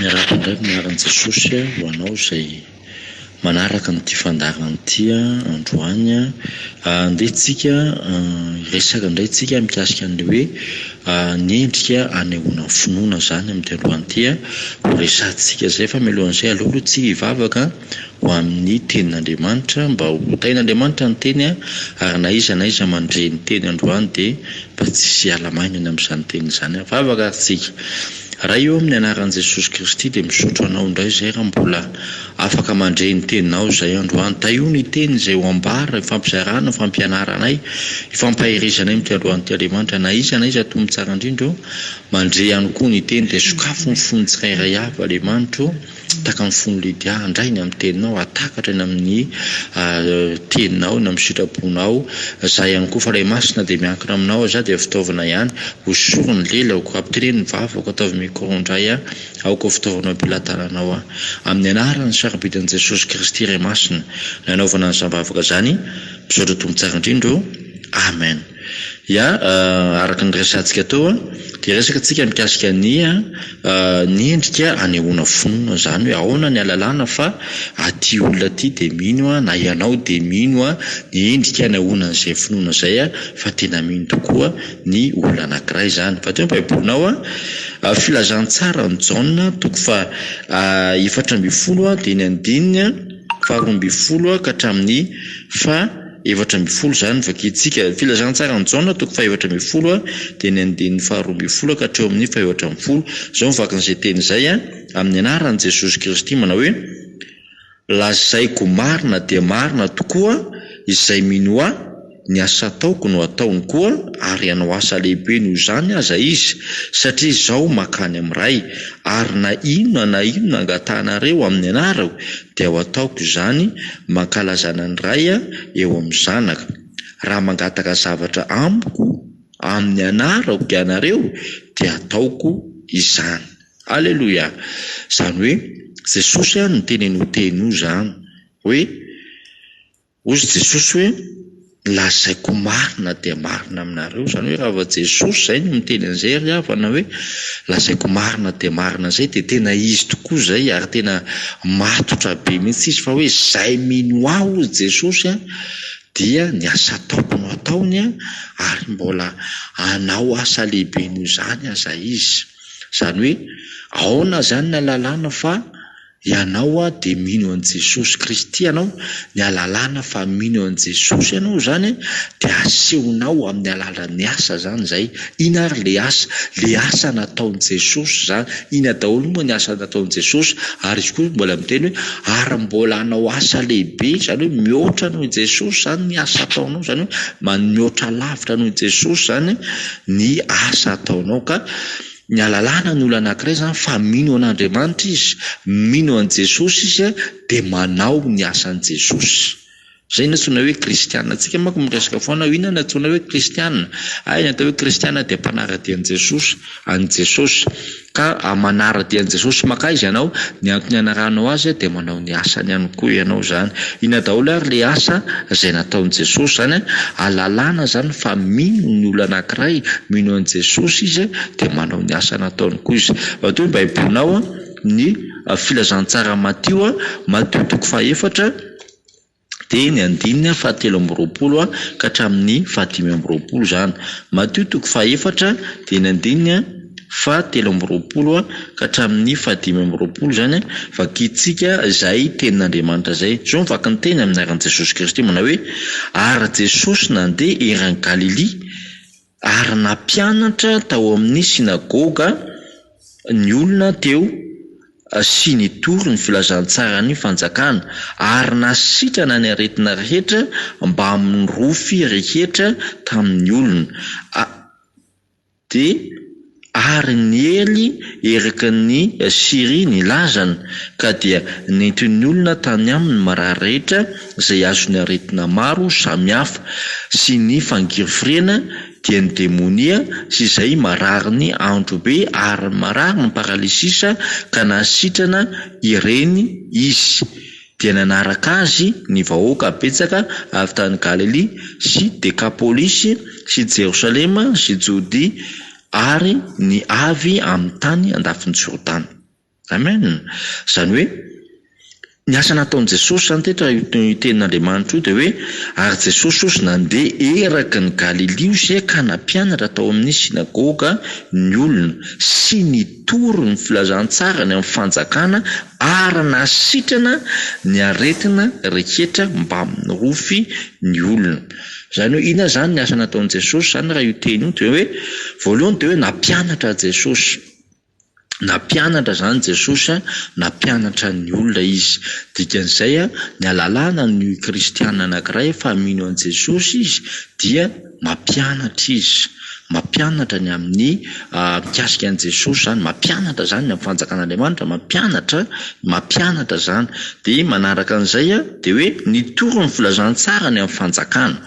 Miarahaba indray amin'ny anaran'i Jesosy ho anao izay manaraka an'ity fandaharana ity androany. Andeha tsika hiresaka indray tsika mikasika ny hoe ny endrika anehoana finoana izany amin'ity androany ity. Ho resahantsika izay fa mialohan'izay aleo aloha tsika hivavaka ho amin'ny tenin'Andriamanitra, mba ho tahin'Andriamanitra ny teny ary na iza na iza mandre ny teny androany dia mba tsy hiala maingana amin'izany teny izany aho. Vavaka ary tsika. Ray ô amin'ny anaran'i Jesosy Kristy dia misaotra anao indray izay raha mbola afaka mandre ny teninao izahay androany. Tahio ny teny izay ho ambara, ifampizarana, ifampianaranay, ifampaherezanay amin'ity androany ity Andriamanitra. Na iza na iza Tompo Tsara indrindra ô mandre ihany koa ny teny dia sokafy ny fon'ny tsirairay avy Andriamanitra ô. Taka ny fon'i Lydia handray eny amin'ny teninao, hahatakatra eny amin'ny teninao, eny amin'ny sitraponao. Zah ihany koa, Fanahy Masina dia miankina aminao aho, zah dia fitaovana ihany, hosoriny ny lelako, hampitereny ny vavako, ataovy micro indray aho, aoka ho fitaovana eo am-pelatananao aho. Amin'ny anarany sarobidin'i Jesosy Kristy Ray Masina, nanaovana an'izany vavaka izany, misaotra Tompo Tsara indrindra o. Amen. Ya, araka ny resahantsika teo a, dia resaka tsika mikasika ny ny endrika anehoana finoana zany hoe aona ny alalana fa aty olona aty de mino a na ianao de mino a ny endrika anehoana an'izay finoana zay a fa tena mino tokoa ny olona anakiray zany fa teo ny baiboly nao a filazantsara ny jaona toko faha efatra ambin'ny folo a dia ny andininy faharoa ambin'ny folo a ka hatramin'ny faha Efatra ambin'ny folo izany vakintsika. Ny filazantsaran'i Jaona toko fahefatra ambin'ny folo dia ny andininy faharoa ambin'ny folo ka hatreo amin'ny fahefatra ambin'ny folo. Izao ny vakin'izay teny izay, Amin'ny anaran'i Jesosy Kristy manao hoe, Lazaiko marina dia marina tokoa, izay minoa Ahy, ny asa ataoko no hataony koa, ary hanao asa lehibe noho izany aza izy, satria Izaho mankany amin'ny Ray. Ary na inona na inona angatahanareo amin'ny anarako, dia ho ataoko izany mankalazana ny Ray eo amin'ny Zanaka. Raha mangataka zavatra amiko amin'ny anarako ianareo dia ataoko izany. Aleloia! Izany hoe Jesosy no teny an'io teny io izany hoe, Hozy Jesosy hoe, Lazaiko marina dia marina aminareo, izany hoe raha Jesosy izay no miteny an'izay ry havana hoe, Lazaiko marina dia marina izay dia tena izy tokoa izay ary tena matotra be mihitsy izy fa hoe izay mino ahy hozy Jesosy a dia ny asa ataoko no ataony a ary mbola anao asa lehibe noho izany aza izy. Izany hoe aona izany ny alalana fa Ianao a dia mino an'i Jesosy Kristy ianao, ny alalana fa mino an'i Jesosy ianao izany dia asehonao amin'ny alalan'ny asa izany izay, ina ary ilay asa? ilay asa nataon'i Jesosy izany, ina daholo moa ny asa nataon'i Jesosy? ary izy koa mbola miteny hoe ary mbola hanao asa lehibe, izany hoe mihoatra noho i Jesosy izany ny asa ataonao, izany hoe mihoatra lavitra noho i Jesosy izany ny asa ataonao ka. Ny alalana no olona anankiray izany fa mino an'Andriamanitra izy, mino an'i Jesosy izy dia manao ny asan'i Jesosy. Izay no antsoina hoe kristiana. Antsika manko miresaka foana hoe inona no antsoina hoe kristiana? Hay ny atao hoe kristiana dia mpanara-dia an'i Jesosy, an'i Jesosy. Ka manara-dia an'i Jesosy makaiza ianao, ny antony anarahanao azy dia manao ny. ny asany ihany koa ianao zany. Inona daholo ary le asa izay nataon'i Jesosy zany an, alalana zany fa mino ny olona anankiray, mino an'i Jesosy izy dia manao ny asa nataony koa izy. Matoa ny baibolinao an, ny filazantsara Matio an, Matio toko faha efatra, dia ny andininy fahatelo amby roapolo ka hatramin'ny fahadimy amby roapolo izany. Matio toko fahaefatra dia ny andininy fahatelo amby roapolo ka hatramin'ny fahadimy amby roapolo izany, vakintsika izay tenin'Andriamanitra izay. Izao no vaky ny teny amin'ny anaran'i Jesosy Kristy manao hoe, Ary Jesosy nandeha eran'i Galilia, Ary nampianatra tao amin'ny synagoga ny olona teo sy nitory ny filazantsaran'ny fanjakana, ary nasitrana ny aretina rehetra mbamin'ny rofy rehetra tamin'ny olona, a. Dia. Ary niely eraky ny Syria ny lazany, ka dia nentiny ny olona tany aminy marary rehetra izay azony aretina maro samy hafa, sy ny fangirifiriana, dia ny demonia, sy izay marary ny androbe ary marary ny paralysisa, ka nahasitrana ireny izy. Dia nanaraka azy ny vahoaka betsaka avy tany Galilia sy Dekapolisy sy Jerosalema sy Jodia ary ny avy amin'ny tany andafin'i Jordana. Amen! Izany hoe, ny asa nataon'i Jesosy izany tetra io tenin'Andriamanitra io dia hoe, Ary Jesosy ozy nandeha eraky ny Galilia ozy ka nampianatra tao amin'ny synagoga ny olona, sy ny. Mitory ny filazantsarany amin'ny fanjakana ary nahasitrana ny aretina rehetra mba mirofy ny olona. Izany hoe inona izany ny asa nataon'i Jesosy izany raha io teny io dia hoe voalohany dia hoe nampianatra Jesosy, nampianatra izany Jesosy a, nampianatra ny olona izy. Dikan'izay a, ny alalana ny kristiana anankiray efa mino an'i Jesosy izy dia. Mampianatra izy. Mampianatra ny amin'ny mikasika an'i Jesosy izany. Mampianatra izany ny amin'ny fanjakan'Andriamanitra. Mampianatra, mampianatra izany. Dia manaraka an'izay dia hoe ny torin'ny filazantsara ny amin'ny fanjakana.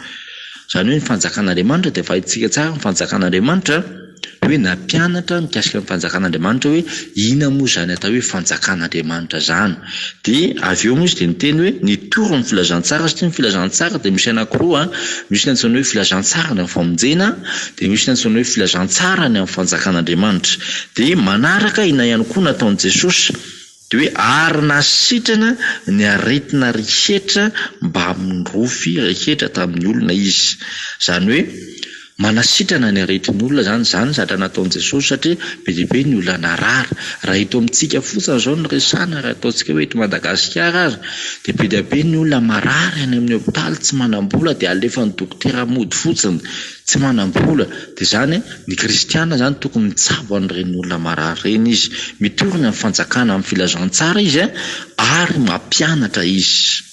Izany hoe ny fanjakan'Andriamanitra dia valintsika tsara ny fanjakan'Andriamanitra. hoe nampianatra mikasika ny fanjakan'Andriamanitra hoe inona moa izany atao hoe fanjakan'Andriamanitra izany dia avy eo moa izy dia niteny hoe nitory ny filazantsara satria ny filazantsara dia misy anakiroa misy ny antsoina hoe filazantsara ny amin'ny famonjena dia misy ny antsoina hoe filazantsara ny amin'ny fanjakan'Andriamanitra dia manaraka ina ihany koa nataon'i Jesosy Dia hoe ary nahasitrana ny aretina rehetra mbamin'ny rofy rehetra tamin'ny olona izy. Izany hoe manasitrana ny aretin'ny olona izany izany zatra nataon'i Jesosy satria be dia be ny olona narary. Raha eto amintsika fotsiny izao no resahana, raha ataontsika hoe eto Madagasikara aza dia be dia be ny olona marary any amin'ny hopitaly, tsy manam-bola dia alefan'ny dokotera mody fotsiny. Tsy manam-bola, dia izany ny kristiana izany tokony mitsabo an'ireny olona marary ireny izy, mitory ny amin'ny fanjakana amin'ny filazantsara izy ary mampianatra izy.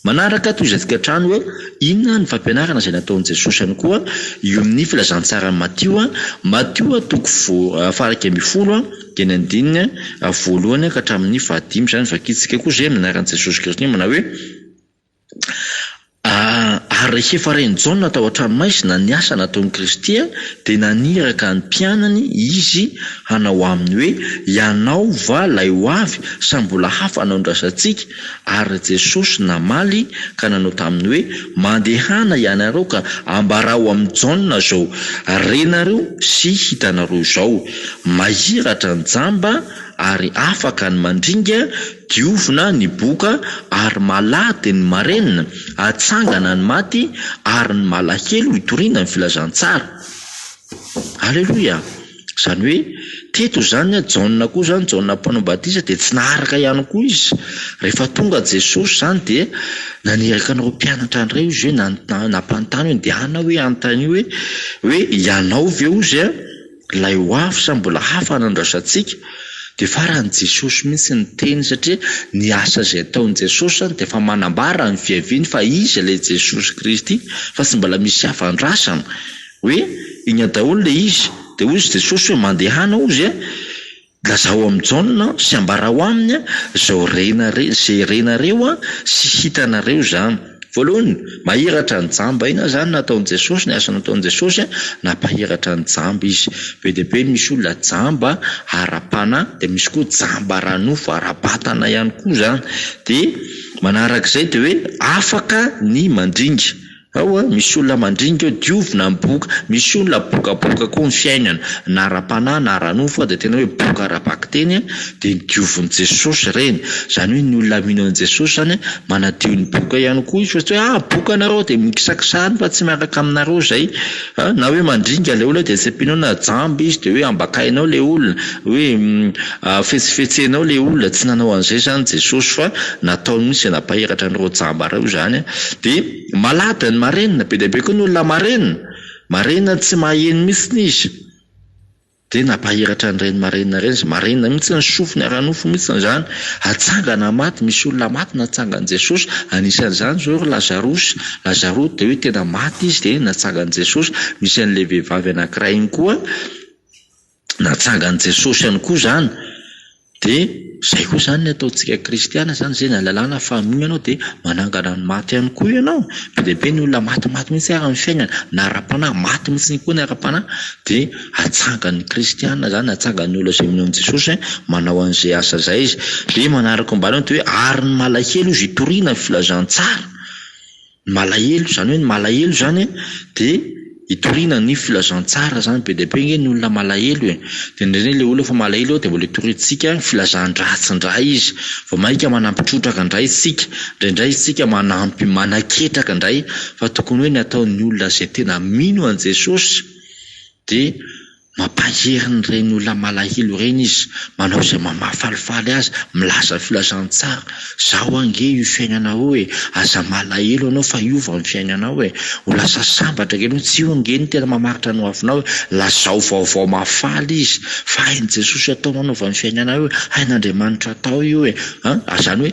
Manaraka toy izay tokantrano hoe inona ny fampianarana izay nataon'i Jesosy ihany koa io amin'ny filazantsaran'i Matio, Matio toko voa faha iraika ambin'ny folo dia ny andininy voalohany ka hatramin'ny faha dimy izany vakintsika koa izay amin'ny anaran'i Jesosy Kristy manao hoe. Ary rehefa ren'i Jaona tao an-tranomaizina ny asa nataon'i Kristy, dia naniraka ny mpianany Izy hanao aminy hoe, Ianao va ilay ho avy, sa mbola hafa no andrasantsika? Ary Jesosy namaly ka nanao taminy hoe, Mandehana ianareo ka ambarao amin'i Jaona izao renareo sy hitanareo izao, Mahiratra ny jamba ary afaka ny mandringa, Diovina ny boka ary malady ny marenina, atsangana ny maty ary ny malahelo hitoriana ny filazantsara. Aleloia! Izany hoe teto izany Jaona koa izany, Jaona mpanao batisa dia tsy naharaka ihany koa izy. Rehefa tonga Jesosy izany dia naniraka an'ireo mpianatra indray ozy hoe, nampanontany hoe, ndehanao hoe hanontania hoe, hoe ianao ve ozy? Ilay ho avy sa mbola hafa no andrasantsika? Dia faran'i Jesosy mihitsy ny teny satria ny asa izay ataon'i Jesosy izany dia efa manambara ny fiaviany fa Izy ilay Jesosy Kristy fa tsy mbola misy hafa andrasana hoe iny daholo ilay izy dia hoy Jesosy hoe mandehana hozy e! Lazao amin'i Jaona sy ambarao aminy izao renareo sy hitanareo izany. Voalohany, mahiratra ny jamba. Inona izany no nataon'i Jesosy, ny asa nataon'i Jesosy? Nampahiratra ny jamba izy. Be dia be ny misy olona jamba ara-panahy, dia misy koa jamba ara-nofo, ara-batana ihany koa izany. Dia manarak'izay dia hoe afaka ny mandringa. Ao a, misy olona mandringa eo, diovina ny boka. Misy olona bokaboka koa ny fiainana, na ara-panahy na ara-nofo, fa dia tena hoe boka ara-bakiteny a, dia ny diovin'i Jesosy ireny. Izany hoe ny olona mino an'i Jesosy izany a, manadio ny boka ihany koa izy fa tsy hoe ah, boka nareo dia mikisakisahana fa tsy miaraka aminareo izay. Na hoe mandringa ilay olona dia tsy ampianao na jamba izy dia hoe ambakainao ilay olona, hoe. Ahafetsifetsenao le olona, tsy nanao an'izay zany Jesosy fa nataony mihitsy nampahiratra an'ireo jamba reo izany a! de malada ny marenina, be dia be koa ny olona marenina, marenina tsy maheno mihitsy izy de nampahiratra an'ireny marenina ireny izy, marenina mihitsy ny sofiny ara-nofo mihitsy izany, hatsangana maty, misy olona maty natsangan'i Jesosy, anisan'izany zao ry Lazarosy, Lazarosy de hoe tena maty izy de natsangan'i Jesosy, misy an'le vehivavy anakiray iny koa, natsangan'i Jesosy ihany koa izany dia izay koa izany ny ataontsika kristiana izany, izay ny lalàna fa mino ianao dia manangana ny maty ihany koa ianao, be dia be ny olona maty maty mihintsy ary ny fiainany na ara-panahy maty mihintsy ihany koa ny ara-panahy dia atsangan'ny kristiana izany, atsangan'ny olona izay mino an'i Jesosy manao an'izay asa izay izy, dia manaraka ambany ao ny hoe ary ny malahelo izy hitoriana ny filazantsara. Malahelo, izany hoe ny malahelo izany an dia hitoriana ny filazantsara izany, be dia be ange ny olona malahelo e, dia indraindray ilay olona efa malahelo eo dia mbola hitoriantsika filazan-dratsy indray izy, vao mainka manampy trotraka indray isika, indraindray isika manampy manaketraka indray, fa tokony hoe ny ataon'ny olona izay tena mino an'i Jesosy dia. Mampahery ny reny olona malahelo reny izy manao izay maha mahafalifaly azy milaza filazantsara zao ange io fiainana io e aza malahelo anao fa hiova ny fiainanao e ho lasa sambatra kely tsy io ange no tena mamaritra ny ho avinao e lazao vaovao mahafaly izy fa hain'i Jesosy atao manaova ny fiainanao io hain'Andriamanitra atao io e an! zany hoe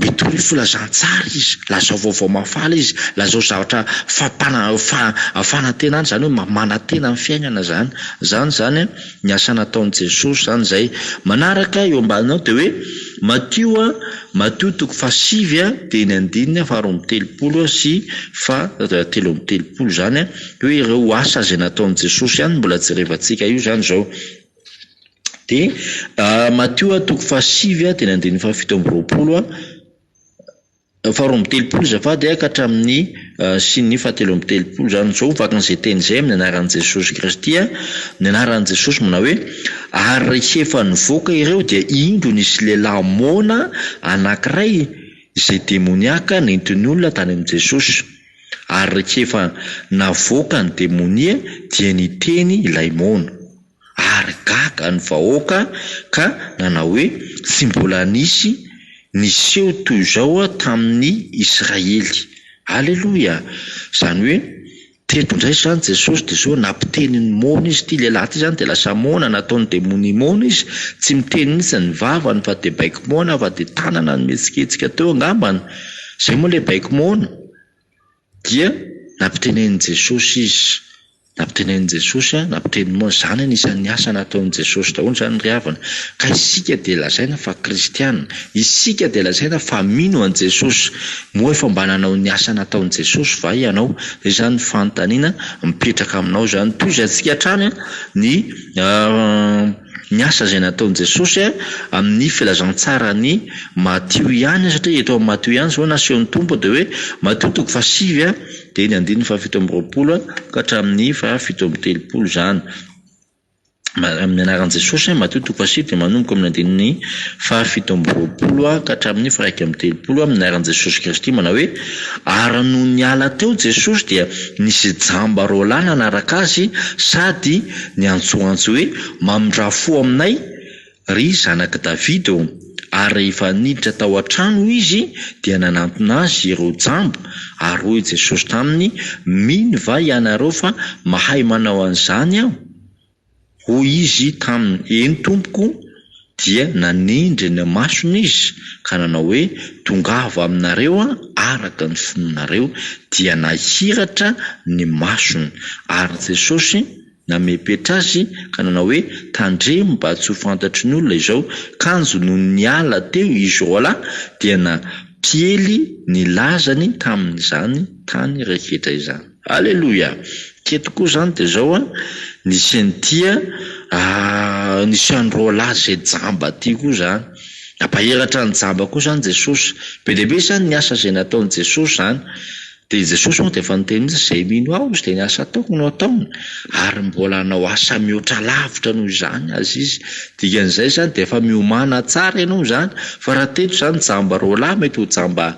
Mitory filazantsara izy, lazao vaovao mahafaly izy, lazao zavatra fampana- fa- fanantenana izany hoe ma- manantena ny fiainana izany. Izany izany an, ny asa nataon'i Jesosy izany izay. Manaraka eo ambaniny ao dia hoe, Matio a, Matio toko fahasivy a, dia ny andininy faharoa amby telopolo a sy faha- telo amby telopolo izany an, dia hoe ireo asa izay nataon'i Jesosy ihany no mbola jerevantsika io izany izao. Dia Matio toko fahasivy a teny andininy fahafito amby roapolo a faharoa amby telopolo azafady a ka hatramin'ny sy ny fahatelo amby telopolo zany zao vaky an'izay teny zay amin'ny anaran'i Jesosy Kristy a, ny anaran'i Jesosy manao hoe ary rehefa nivoaka ireo dia indro nisy lehilahy moana anankiray izay demoniaka nentin'ny olona tany amin'i Jesosy. Ary rehefa navoaka ny demonia dia niteny ilay moana. Ary gaga ny vahoaka ka nanao hoe, Tsy mbola nisy niseho toy izao tamin'ny Israely. Aleloia! Izany hoe, teto indray izany Jesosy dia sao nampiteny ny moana Izy. Ity lehilahy ity izany dia lasa moana, nataon'ny demonia moana izy. Tsy miteny mihitsy ny vavany fa dia baiko moana fa dia tanana no mihetsiketsika teo angambany. Izay moa ilay baiko moana. Dia nampitenenin'i Jesosy izy. Nampitenenin'i Jesosy, nampitenin'i Môsy. Izany anisan'ny asa nataon'i Jesosy daholo izany ry havana. Ka isika dia lazaina fa kristiana. Isika dia lazaina fa mino an'i Jesosy. Moa efa mba nanao ny asa nataon'i Jesosy va ianao? Dia izany ny fanontaniana mipetraka aminao izany. Tohizatsika hatrany ny. Ny asa izay nataon'i Jesosy amin'ny filazantsaran'i Matio ihany, satria eto amin'i Matio ihany izao nasehon'ny Tompo dia hoe, Matio toko fahasivy dia ny andininy fahafito amby roapolo ka hatramin'ny fahafito amby telopolo izany. Amin'ny anaran'i Jesosy, Matio toko fahasivy dia manomboka amin'ny andininy fahafito amby roapolo ka hatramin'ny fahiraika amby telopolo amin'ny anaran'i Jesosy Kristy manao hoe, Ary nony niala teo Jesosy dia nisy jamba roalahy nanaraka Azy sady Niantsoantso hoe, Mamindrà fo aminay, ry zanak'i Davida ô! Ary rehefa niditra tao an-trano izy, dia nanantona azy ireo jamba, ary hoy Jesosy taminy, Mino va ianareo fa mahay manao an'izany Aho? Hoy izy taminy, Eny, Tompoko. Dia nanindry ny masony izy ka nanao hoe, Tongava aminareo araka ny finoanareo. Dia nahiratra ny masony. Ary Jesosy namepetra azy ka nanao hoe, Tandremo mba tsy ho fantatry ny olona izao. Kanjo nony niala teo izy roalahy dia nampiely ny lazany tamin'izany tany rehetra izany. Aleloia! Tia tokoa zany de zao an, nisy an'ity an, aah nisy an'i roalahy zay jamba ty koa zany, nampaheratra an'i jamba koa zany Jesosy, be dia be zany ny asa zay nataon'i Jesosy zany, de i Jesosy moa de efa niteny mintsy zay mino aho izy de ny asa ataoko no ataony, ary mbola hanao asa mihoatra lavitra noho izany aza izy, dikan'izay zany de efa miomana tsara ianao zany, fa raha teto zany jamba roalahy mety ho jamba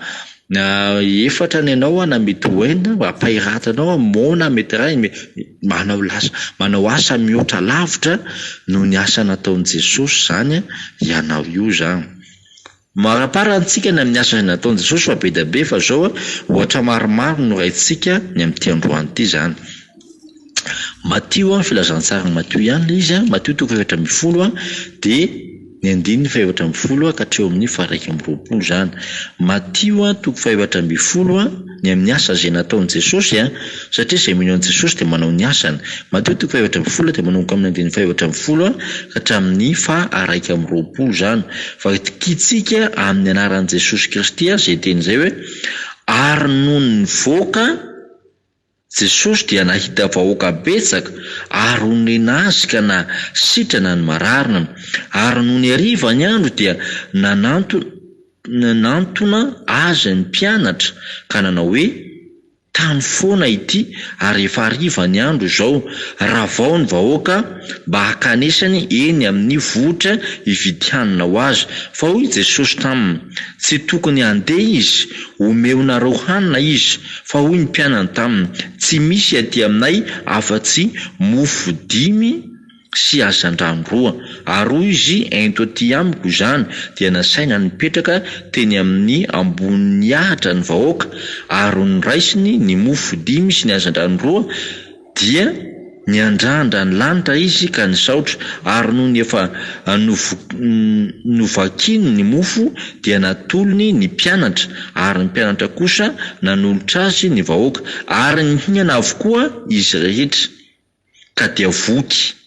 Na efatra ny anao na mety ho enina, ampahiratanao an, moana mety iray, me- manao lasa manao asa mihoatra lavitra noho ny asa nataon'i Jesosy izany an, ianao io izany. Maharapara antsika ny amin'ny asa izay nataon'i Jesosy fa be dia be fa izao an, ohatra maromaro no raintsika ny amin'ity androany ity izany. Matio, filazantsary Matio ihany ilay izy, Matio toko efatra ambin'ny folo dia ny andininy fahefatra ambin'ny folo ka hatreo amin'ny faha-iraika amby roapolo izany. Matio toko fahefatra ambin'ny folo, ny amin'ny asa izay nataon'i Jesosy, satria izay mino an'i Jesosy dia manao ny asany. Matio toko fahefatra ambin'ny folo dia manomboka amin'ny andininy fahefatra ambin'ny folo ka hatramin'ny faha-iraika amby roapolo izany. Vakintsika amin'ny anaran'i Jesosy Kristy izay teny izay hoe, ary nony nivoaka, Jesosy dia nahita vahoaka betsaka ary onena azy ka na sitrana ny mararina. Ary nony hariva ny andro dia nananto nantona azy ny mpianatra ka nanao hoe, Tano foana ity ary efa hariva ny andro izao. Ravao ny vahoaka mba hankanesany eny amin'ny vohitra hividy hanina ho azy. Fa hoy Jesosy taminy, Tsy tokony handeha izy, omeonareo hanina izy. Fa hoy ny mpianany taminy, Tsy misy aty aminay afa-tsy mofo dimy sy hazandrano roa. Ary hoy izy, Ento aty amiko izany. Dia nasaina nipetraka teny amin'ny ambonin'ny ahitra ny vahoaka, ary noraisiny ny mofo dimy sy ny hazandrano roa. Dia niandrandra ny lanitra izy ka nisaotra, ary nony efa novakiny ny mofo, dia natolony ny mpianatra, ary ny mpianatra kosa nanolotra azy ny vahoaka, ary nihinana avokoa izy rehetra, ka dia voky.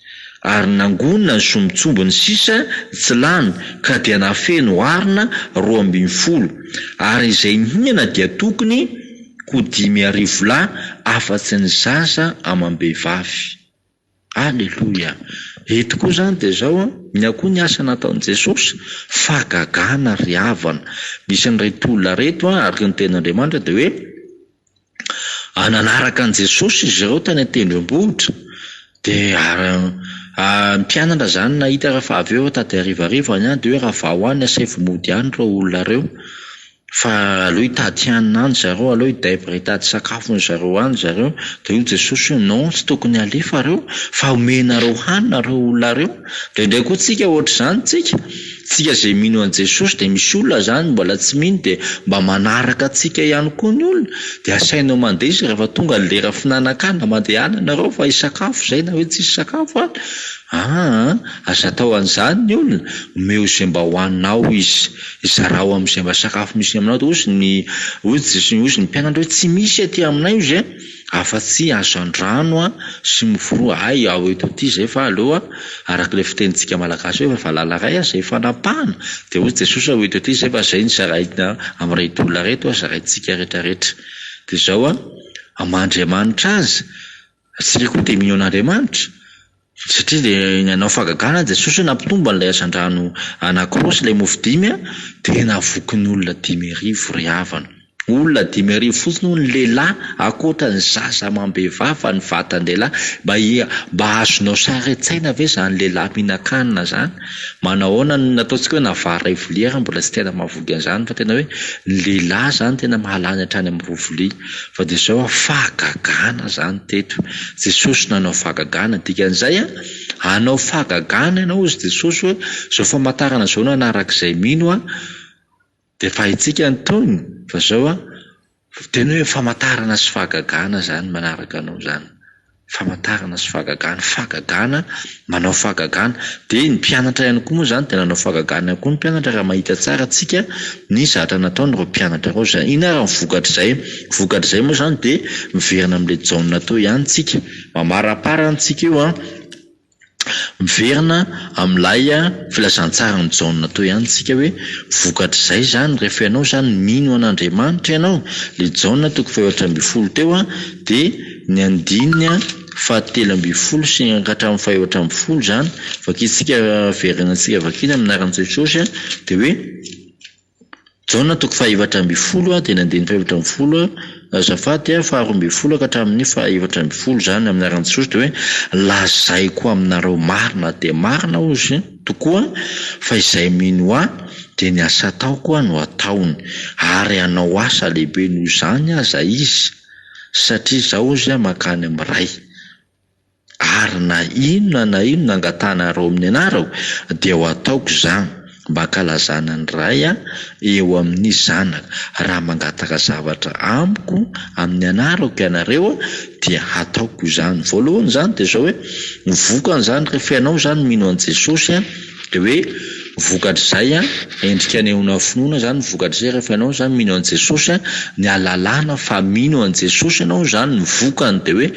Ary nangonina ny sombintsombiny sisa tsy lany ka dia nafeno arina roa ambin'ny folo, ary izay nihinana dia tokony ho dimy arivo lahy afa-tsy ny zaza amam-behivavy. Aleloia! Eto koa izany dia izao an, inona koa ny asa nataon'i Jesosy? Fahagagana ry havana! Misy an'ireto olona ireto an, araka ny tenin'Andriamanitra dia hoe, ary nanaraka an'i Jesosy izy ireo tany an-tendrombohitra dia ary ny mpianatra izany nahita rehefa avy eo tady harivariva any dia hoe raha vao any asaivo mody any ireo olona ireo fa aleo hitady hanina any zareo aleo hidebre hitady sakafo ny zareo any zareo dia hoy Jesosy hoe non tsy tokony halefa reo fa homenareo hanina ireo olona ireo dia indraindray koa tsika ohatr'izany tsika Tsika izay mino an'i Jesosy dia misy olona zany mbola tsy mino dia mba manaraka antsika ihany koa ny olona dia asainao mandeha izy rehefa tonga ny lera finanan-kanina mandehana nareo fa hisakafo izay na hoe tsisy sakafo ary aa aza atao an'izany ny olona omeo izay mba hohaninao izy zarao amin'izay mba sakafo misy aminao dia hozy ny hozy ny mpianatra hoe tsy misy aty aminay hozy a afa-tsy hazandrano sy miforoha hay ao eto ity izay fa aleo a, araka ilay fitenintsika malagasy hoe fa valala iray aza ifanapahana dia hoy Jesosy ao eto ity izay fa izay ny zaraina amin'ireto olona ireto zaraintsika rehetrarehetra dia izao a, aman'Andriamanitra azy, isika koa dia mino an'Andriamanitra. Satria dia nanao fagagana Jesosy hoe nampitombo an'ilay hazandrano anankiroa sy ilay mofo dimy an, dia navokin'olona dimy arivo ry havana. Olona dimy arivo fotsiny hono lehilahy, ankoatra ny zaza amam-behivavy fa ny vatan-dehilahy. Mba ia, mba azonao sary an-tsaina ve izany lehilahy mihinan-kanina izany? Manahoana no nataontsika hoe na vary iray vilia ary mbola tsy tena mahavoky an'izany fa tena hoe ny lehilahy izany tena mahalany hatrany amin'ny roa vilia. Fa dia izao an, fahagagana izany teto. Jesosy nanao fahagagana. Dikan'izay an, hanao fahagagana ianao hozy Jesosy hoe, izao famantarana izao nanaraka izay mino an, dia fahintsika ny tohiny. Fa izao an, teny hoe famantarana sy fahagagana izany manaraka anao izany. famantarana sy fahagagana, fahagagana, manao fahagagana, dia ny mpianatra ihany koa moa izany dia nanao fahagagana ihany koa ny mpianatra raha mahita tsara tsika ny zatra nataon'ireo mpianatra ireo izay inona ary ny vokatr'izay, vokatr'izay moa izany dia miverina amin'ilay Jaona teo ihany tsika, mamarapara ny tsika io an. Miverina amin'ilay filazantsaran'i Jaona teo ihany isika hoe, vokatr'izay izany, rehefa ianao izany mino an'Andriamanitra ianao, le Jaona toko fahefatra ambin'ny folo teo an, de ny andininy fahatelo ambin'ny folo sy hatramin'ny fahefatra ambin'ny folo izany, vakintsika, verenantsika vakiana amin'ny anaran'i Jesosy an, de hoe. Jaona toko fahaefatra ambin'ny folo teny andininy fahaefatra ambin'ny folo Azafady a faharoa ambin'ny folo ka hatramin'ny fahaefatra ambin'ny folo izany amin'ny anaran'i Jesosy dia hoe lazaiko aminareo marina dia marina hozy tokoa fa izay mino ahy dia ny asa ataoko koa no ataony ary hanao asa lehibe noho izany aza izy satria izaho hozy mankany amin'ny ray Ary na inona na inona angatahanareo amin'ny anarako, dia ho ataoko izany, mba hankalazana ny Ray eo amin'ny Zanaka. Raha mangataka zavatra Amiko amin'ny anarako ianareo, dia hataoko izany. Voalohany izany dia izao hoe, ny vokan'izany, rehefa ianao izany mino an'i Jesosy, Dia hoe vokatr'izay an, endrika anehoana finoana izany ny vokatr'izay rehefa ianao izany mino an'i Jesosy an, ny ahalalana fa mino an'i Jesosy ianao izany ny vokany dia hoe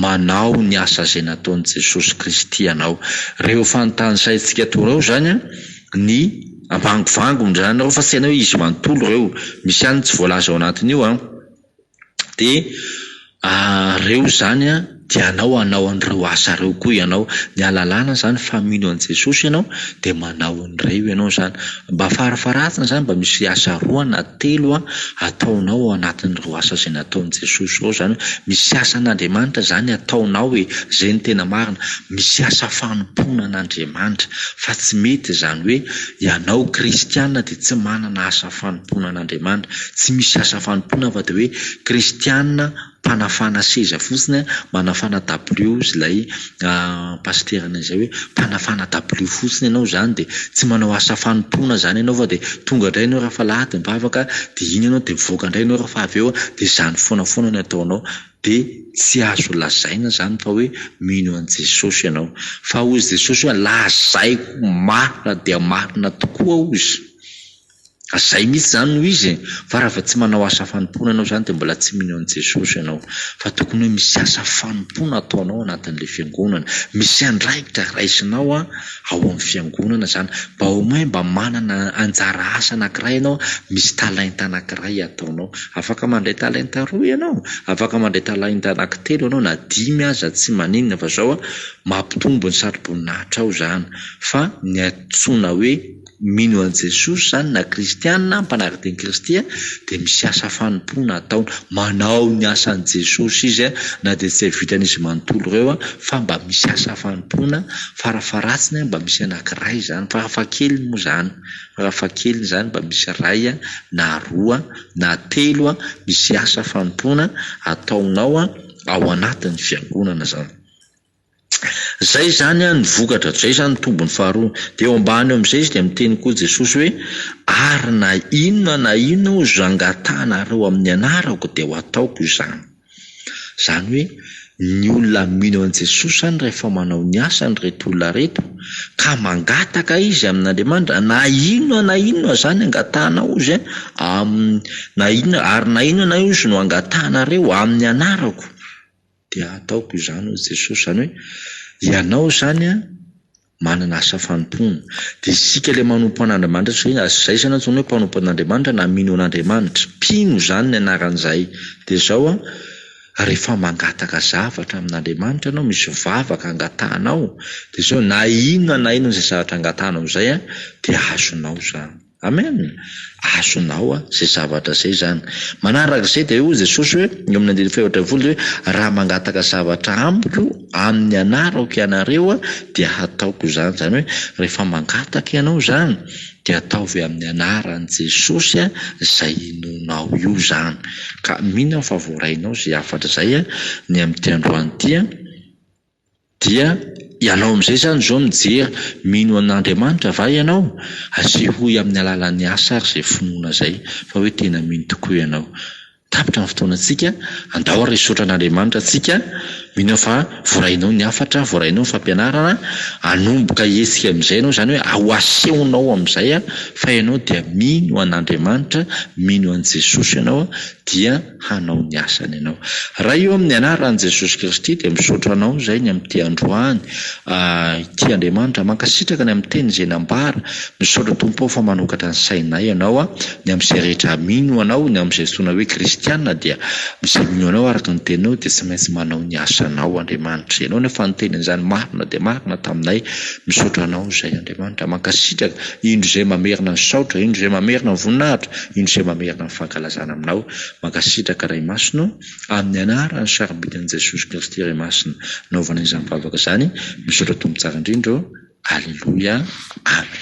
manao ny asa izay nataon'i Jesosy Kristy ianao. Ireo efa notanisaintsika teo ireo izany an, ny vangovangony izany ireo fa tsy hainao hoe izy manontolo ireo, misy ihany ny tsy voalaza ao anatin'io an. de reo izany an de anao anao an'ireo asa reo koa ianao, ny alalana zany fa mino an'i Jesosy ianao de manao an'ireo ianao zany, mba farafaharatiny zany mba misy asa roa na telo an ataonao ao anatin'ireo asa izay nataon'i Jesosy ireo zany hoe misy asa an'Andriamanitra zany ataonao e, zay no tena marina, misy asa fanompoana an'Andriamanitra fa tsy mety zany hoe ianao kristiana de tsy manana asa fanompoana an'Andriamanitra. Tsy misy asa fanompoana afa dia hoe kristiana mpanafana seza fotsiny an, manafana dabilio hozy ilay pasiteranay izay hoe mpanafana dabilio fotsiny ianao izany dia tsy manao asa fanompoana izany ianao fa dia tonga indray ianao rehefa alahady mivavaka dia iny ianao dia mivoaka indray ianao rehefa avy eo dia izany foana foana no ataonao dia tsy azo lazaina izany fa hoe mino an'i Jesosy ianao. Fa hozy Jesosy hoe lazaiko marina dia marina tokoa hozy. Zay mihitsy zany no izy e! Fa raha vao tsy manao asa fanompoana ianao zany dia mbola tsy mino an'i Jesosy ianao. Fa tokony hoe misy asa fanompoana ataonao anatin'ilay fiangonana. Misy andraikitra raisinao ao amin'ny fiangonana izany. Mba au moins mba manana anjara asa anankiray ianao, misy talenta anankiray ataonao. Afaka mandray talenta roa ianao, afaka mandray talenta anankitelo ianao na dimy aza tsy maninona fa zao mampitombo ny satroboninahitra ao izany. Fa ny antsoina hoe. Mino an'i Jesosy izany na kristiana mpanaraka teny Kristy dia misy asa fanompoana ataony. Manao ny asan'i Jesosy izy na dia tsy hay vitan'izy manontolo ireo fa mba misy asa fanompoana, farafaharatsiny mba misy anankiray izany, farafahakeliny moa izany, farafahakeliny izany mba misy iray na roa na telo misy asa fanompoana ataonao ao anatin'ny fiangonana izany. Izay izany an ny vokatra, izay izany ny tombony faharoa. Dia eo ambany eo amin'izay izy dia miteny koa Jesosy hoe, ary na inona na inona ozy zangatahanareo amin'ny anarako dia ho ataoko izany. Izany hoe ny olona mino an'i Jesosy izany rehefa manao ny asany ireto olona ireto ka mangataka izy amin'Andriamanitra na inona na inona izany angatahana ozy amin'ny na inona ary na inona na inona ozy no angatahanareo amin'ny anarako dia hataoko izany hoy Jesosy, izany hoe ianao izany an manana asa fanompoana, dia isika ilay manompo an'Andriamanitra tsy hoe aza izay izany antsoina hoe mpanompo an'Andriamanitra na mino an'Andriamanitra, mpino izany ny anaran'izahay, dia izao an rehefa mangataka zavatra amin'Andriamanitra ianao, misy vavaka angatahanao, dia izao na inona na inona izay zavatra angatahanao izay an dia azonao izany. Amen! Azonao zay zavatra zay zany. Manaraka izay dia hoy Jesosy hoe, eo amin'ny andininy fahefatra ambin'ny folo dia hoe, raha mangataka zavatra amiko amin'ny anarako ianareo dia hataoko izany. Izany hoe rehefa mangataka ianao izany dia ataovy amin'ny anaran'i Jesosy izay inoanao io izany. Ka mino aho fa voarainao izay hafatra izay ny amin'ity androany ity. Dia ianao amin'izay izany izao mijery, mino an'Andriamanitra va ianao? Asehoy amin'ny alalan'ny asa ary izay finoana izay fa hoe tena mino tokoa ianao. Tapitra ny fotoanantsika, andao ary hisaotra an'Andriamanitra tsika, mino aho fa voarainao ny hafatra, voarainao ny fampianarana, hanomboka hihetsika amin'izay ianao, izany hoe ho asehonao amin'izay fa ianao dia mino an'Andriamanitra, mino an'i Jesosy ianao dia. hanao ny asany ianao. Ray ô amin'ny anaran'i Jesosy Kristy dia misaotra anao izay ny amin'ity androany ity Andriamanitra mankasitraka ny amin'ny teny izay nambara misaotra Tompo ao fa manokatra ny sainay ianao a ny amin'izay rehetra mino anao ny amin'izay antsoina hoe kristiana dia izay mino anao araka ny teninao dia tsy maintsy manao ny asanao Andriamanitra ianao ny fanoteny an'izany marina dia marina taminay misaotra anao izay Andriamanitra mankasitraka indro izay mamerina ny saotra indro izay mamerina ny voninahitra Indro izay mamerina ny fankalazana aminao. Mankasitraka Ray Masina ô, amin'ny anaran'ny sarobidy-n'i Jesosy Kristy Ray Masina naovana izany vavaka izany, misaotra Tompo tsara indrindra ô, Aleloia, Amen.